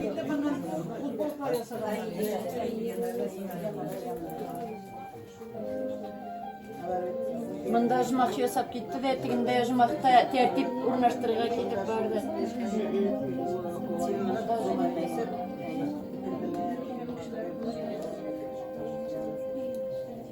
Инде моннан футболка ясарга Монда жмах ясап китте дә, тегендә жмахта тәртип урнаштырырга китеп барды.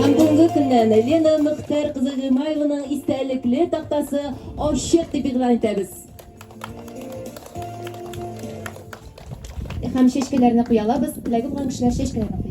Һәм бүгенге көннән Лена Мөхтәр кызы Гыймаеваның истәлекле тактасы ачык дип игълан итәбез. Һәм чәчкәләрне куялабыз, теләге булган кешеләр чәчкәләрне куя.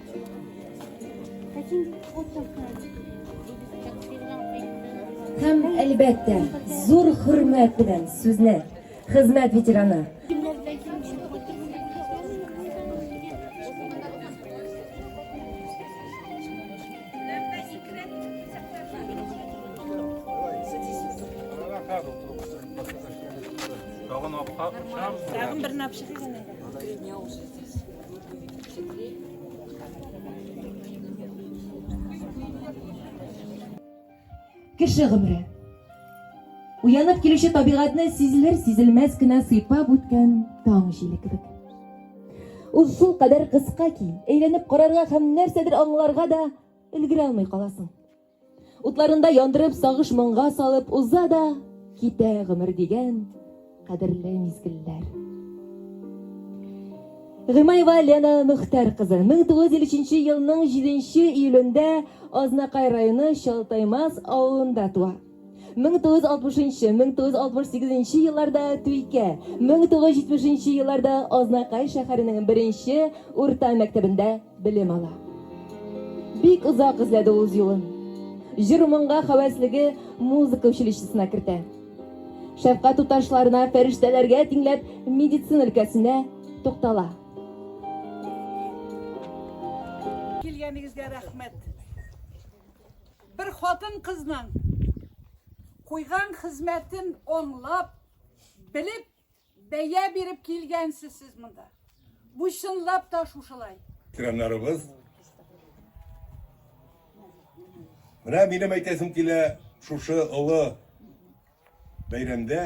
Һәм, әлбәттә, зур хөрмәт белән сүзне хезмәт ветераны. Тагын апка, Тагын бер напшык Кеше гомере. Уянып килүче табигатьне сизелер-сизелмәс кенә сыйпап үткән таң җиле кебек. Ул шул кадәр кыска ки, әйләнеп карарга һәм нәрсәдер аңларга да өлгерә алмый каласың. Утларында яндырып, сагыш моңга салып уза да китә гомер дигән кадерле мизгелләр. Гыймаева Лена Мөхтәр кызы 1953 елның 7 июлендә Азнакай районы Чалтаймас авылында туа. 1960 нчы, 1968 нче елларда Түйкә, 1970 нче елларда Азнакай шәһәренең беренче урта мәктәбендә белем ала. Бик озак эзләде ул үз юлын. Җыр-моңга хәвәслеге музыка училищесына кертә. Шәфкать туташларына, фәрештәләргә тиңләп, медицина өлкәсенә туктала. Килгәнегезгә рәхмәт. Бер хатын-кызның куйган хезмәтен онлап, белеп, бәя биреп килгәнсез сез монда. Бу чынлап та шушылай. Ветераннарыбыз. Менә минем әйтәсем килә, шушы олы бәйрәмдә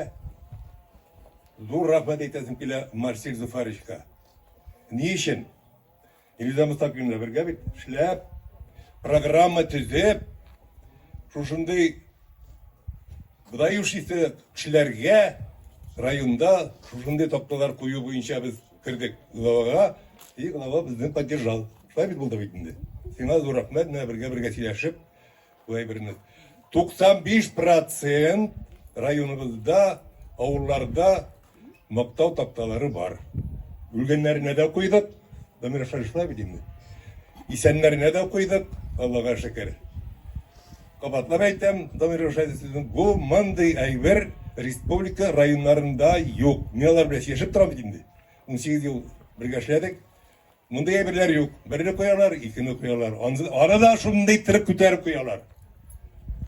зур рәхмәт әйтәсем килә Марсель Зуфаровичка. Ни өчен? Илза Мостафиевна бергә бит эшләп, программа төзеп, шушындый быдающийсы кешеләргә районда шушындый такталар кую буенча без кердек главага, и глава безне поддержал. Шулай бит булды бит инде. Сиңа зур рәхмәт, менә бергә-бергә сөйләшеп, Бу әйберне 95 процент районыбызда, авылларда мактау такталары бар. Үлгәннәренә дә куйдык, номер шашлай бит Исәннәренә дә куйдык, Аллага шөкер. Кабатлап әйтәм, Дамир Рушадисович, бу мондый әйбер республика районнарында юк. Мин алар белән яшәп торам бит инде. 18 ел бергә эшләдек. Мондый әйберләр юк. Берне куялар, икене куялар. Аны да шундый иттереп күтәреп куялар.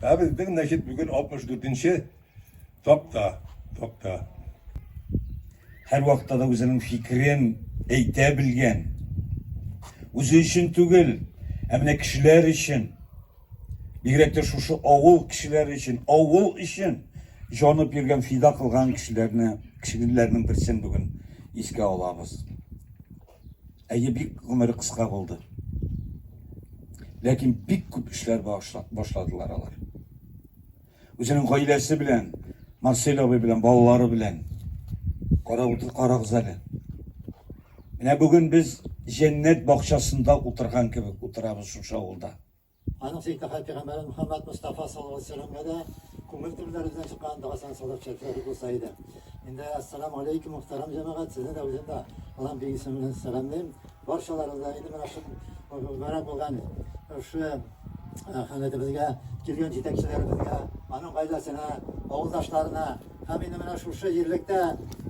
Ә безнең, значит, бүген 64-нче такта, такта. Һәр вакытта да үзенең фикерен әйтә белгән. Үзе өчен түгел, ә менә кешеләр өчен. Бигрәк тә шушы авыл кешеләре өчен, авыл өчен җанып йөргән, фида кылган кешеләрне, кешеләрнең берсен бүген искә алабыз. Әйе, бик гомере кыска булды. Ләкин бик күп эшләр башладылар алар. Үзенең гаиләсе белән, Марсель абый белән, балалары белән карап утыр, карагыз әле. Менә бүген без җәннәт бакчасында утырган кебек утырабыз шушы авылда. Аның сыйкаһәт пигамбәре Мөхәммәд Мостафа саллаллаһу галәйһи ва сәлләмгә дә күңел төпләребездән чыккан догасына салып чәчсәк булса иде. Инде Әссәламү галәйкүм, мөхтәрәм җәмәгать, сезне дә, үзем дә Аллаһның бик исеме белән сәламлыйм. Барчаларыгызны да инде менә шул мөбарәк булган шушы хәләтебезгә килгән җитәкчеләребезгә, аның гаиләсенә, авылдашларына, Һәм инде менә шушы җирлектә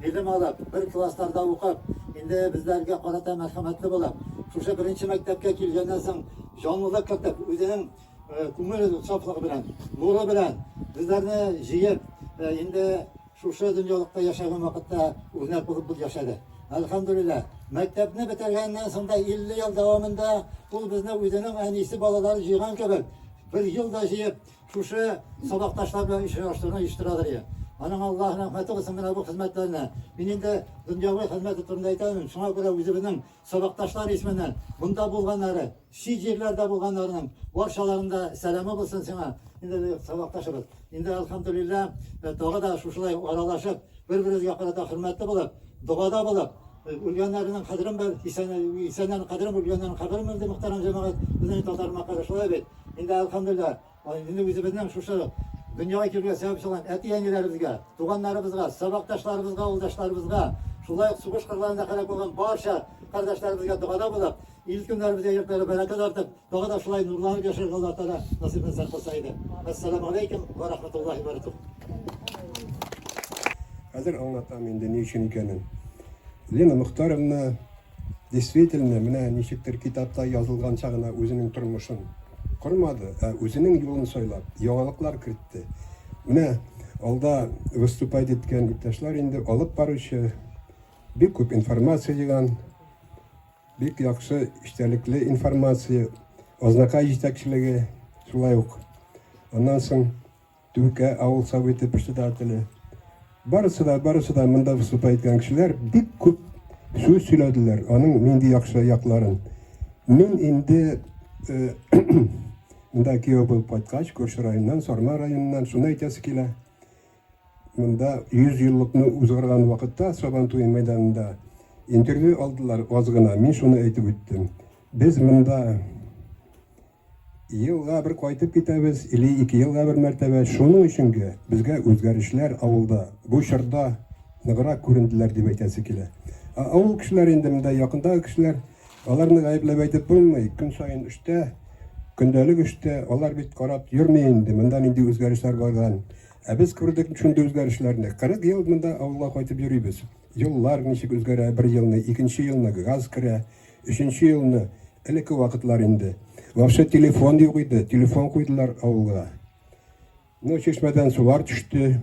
белем алып, бер классларда укып, инде безләргә карата мәрхәмәтле булып, шушы беренче мәктәпкә килгәннән соң җанлылык кертеп, үзенең э, күңел сафлыгы белән, нуры белән безләрне җыеп, э, инде шушы дөньялыкта яшәгән вакытта үрнәк булып бул яшәде. Әлхәмдүлилләһ, мәктәпне бетергәннән соң да 50 ел дәвамында ул безне үзенең әнисе балалары җыйган кебек, бер ел да җыеп, Шушы сабакташлар белән очраштыруны оештырадыр я. Аның Аллаһ рәхмәте булсын менә бу хезмәтләренә. Мин инде дөньяви хезмәте турында әйтәмен. Шуңа күрә үзебезнең сабакташлар исеменнән монда булганнары, чит җирләрдә булганнарның барчаларының да сәламе булсын сиңа. Инде сабакташыбыз. Инде алхамдулилла, э, тагы да шушылай аралашып, бер-беребезгә карата хөрмәтле булып, догада булып, үлгәннәрнең кадерен бел, исәннәрнең кадерен, үлгәннәрнең каберен бел, ди мөхтәрәм җәмәгать. Безнең татар мәкале шулай бит. Инде әлхәмдүлилләһ, инде үзебезнең шушы дөньяга килергә сәбәп чыган әти-әниләребезгә, туганнарыбызга, сабакташларыбызга, авылдашларыбызга, шулай ук сугыш кырларында һәлак булган барча кардәшләребезгә догада булып, ил-көннәребезгә йортлары бәрәкәт артып, тагы да шулай нурланып яшәргә Аллаһ Тәгалә насыйп итсә кылса иде. Ассаламу алейкум ва рахматуллахи ва баракатуһ. Хәзер аңлатам инде ни өчен икәнен. Лена Мөхтаровна Действительно, менә ничектер китапта язылганча гына үзенең тормышын кормады, ә үзенең юлын сайлап, яңалыклар кертте. Менә алда выступать иткән иптәшләр инде алып баручы, бик күп информация җыйган, бик яхшы эчтәлекле информация, Азнакай җитәкчелеге шулай ук. Аннан соң Түркә авыл Советы председателе. Барысы да, барысы да монда выступать иткән кешеләр бик күп сүз сөйләделәр, аның нинди яхшы якларын. Мин инде Монда кияү булып кайткач, күрше районнан, Сарма районыннан, шуны әйтәсе килә. Монда 100 еллыкны узгарган вакытта Сабан туе мәйданында интервью алдылар аз гына. Мин шуны әйтеп үттем. Без монда Елга бер кайтып китәбез или ике елга бер мәртәбә, шуның өчен гә безгә үзгәрешләр авылда бу чорда ныграк күренделәр дип әйтәсе килә. Ә авыл кешеләре инде монда якындагы кешеләр, аларны гаепләп әйтеп булмый, көн саен эштә, көндәлек эштә, алар бит карап йөрми инде, монда нинди үзгәрешләр барган. Ә без күрдек шундый үзгәрешләрне. 40 ел монда авылга кайтып йөрибез. Юллар ничек үзгәрә, бер елны, икенче елны газ керә. Өченче елны, элекке вакытлар инде. Вообще телефон юк иде, телефон куйдылар авылга. Ну, чишмәдән сулар төште.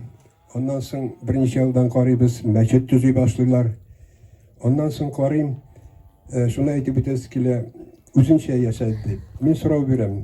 Аннан соң берничә елдан карыйбыз, мәчет төзи башлыйлар. Аннан соң карыйм, э, шуны әйтеп үтәсе килә, үзенчә яшәде. Мин сорау бирәм.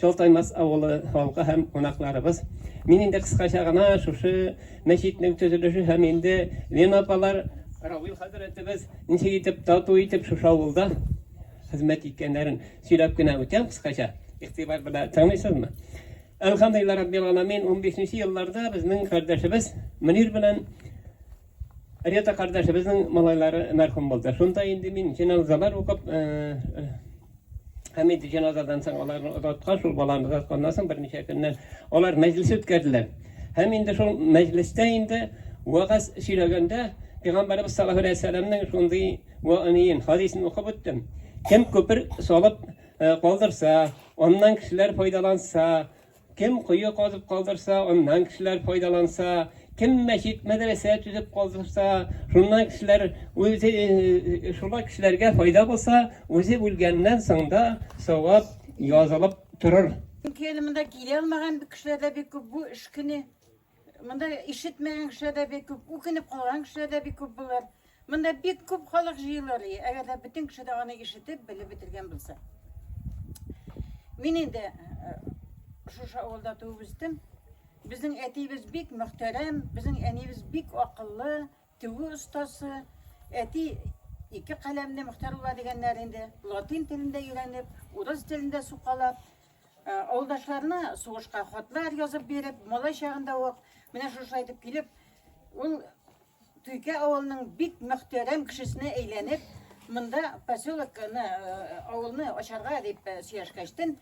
Чалтаймас авылы халкы һәм кунакларыбыз, мин инде кыскача гына шушы мәчетнең төзелеше һәм инде Лена апалар, Равил хәзрәтебез ничек итеп тату итеп шушы авылда хезмәт иткәннәрен сөйләп кенә үтәм кыскача, игътибар белән тыңлыйсызмы? Әлхәмдүлиллаһ раббил галәмин, унбишенче елларда безнең кардәшебез Мөнир белән, Рета кардәшебезнең малайлары мәрхүм булды. Шунда инде мин җеназалар укып, һәм инде җеназадан соң аларны озаткан, шул баланы озатканнан соң берничә көннән алар мәҗлес үткәрделәр. Һәм инде шул мәҗлестә инде вагаз сөйләгәндә Пәйгамбәрбез саллаллаһу алейһи вәсәлләмнең шундый вәгъниен, хадисен укып үттем. Кем күпер салып калдырса, аннан кешеләр файдаланса, Кем кое казып калдырса, аннан кешеләр файдаланса, кем мәчет, мәдрәсә төзеп калдырса, шуннан кешеләр үзе шуңа кешеләргә файда булса, үзе үлгәннән соң да савап язылып торыр. Чөнки әле монда килә алмаган кешеләр дә бик күп бу эш көне. Монда ишетмәгән кеше дә бик күп, үкенеп калган кеше дә бик күп булыр. Монда бик күп халык җыелыр, әгәр дә бөтен кеше дә аны ишетеп, белеп бетергән булса. Мин инде э, шушы авылда туып үстем. Безнең әтиебез бик мөхтәрәм, безнең әниебез бик акыллы, тегү остасы. Әти ике каләмне Мөхтәр була дигәннәр инде. Латин телендә өйрәнеп, урыс телендә сукалап, Авылдашларына сугышка хатлар язып биреп, малай чагында ук менә шушылай итеп килеп, ул Туйкә авылының бик мөхтәрәм кешесенә әйләнеп, монда поселокны, авылны ачарга дип сөйләшкәчтен,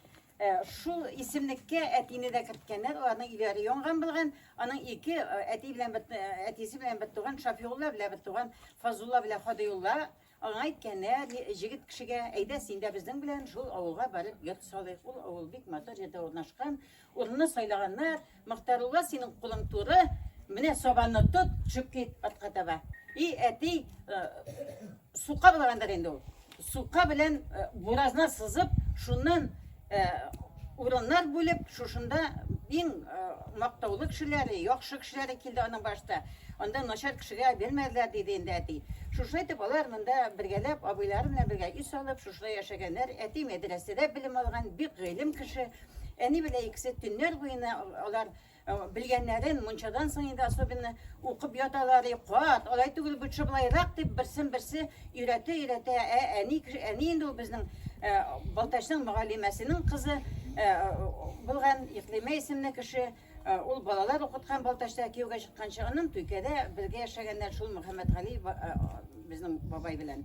шул исемлеккә әтине дә керткәннәр, аларның өйләре янган булган, аның ике әти белән бер әтисе белән бер туган Шафиулла белән бер туган Фазулла белән Хадиулла Аңа әйткәннәр, ни, җегет кешегә, әйдә, син дә безнең белән шул авылга барып йорт салыйк. Ул авыл бик матур җирдә урнашкан. Урынны сайлаганнар. Мохтарулла, синең кулың туры, менә сабанны тот, төшеп кит атка таба. И әти, э, сука булгандыр инде ул. Сука белән э, буразна сызып, шуннан Урыннар бүлеп, шушында иң мактаулы кешеләре, яхшы кешеләре килде аның башта. Анда начар кешегә бирмәделәр, диде инде әти. Шушылай итеп, алар монда бергәләп, абыйлары белән бергә өй салып, шушылай яшәгәннәр. Әти мәдрәсәдә белем алган, бик гыйлем кеше. Әни белән икесе төннәр буена алар. Э, белгәннәрен мунчадан соң инде особенно укып яталар кат алай түгел лучше былайрак дип берсен берсе өйрәтә өйрәтә ә әни әни инде ул безнең э, балтачның мөгаллимәсенең кызы э, булган иклимә исемле кеше ул балалар укыткан балтачта кияүгә чыкканчы аннан түйкәдә бергә яшәгәннәр шул мөхәммәтгали безнең бабай белән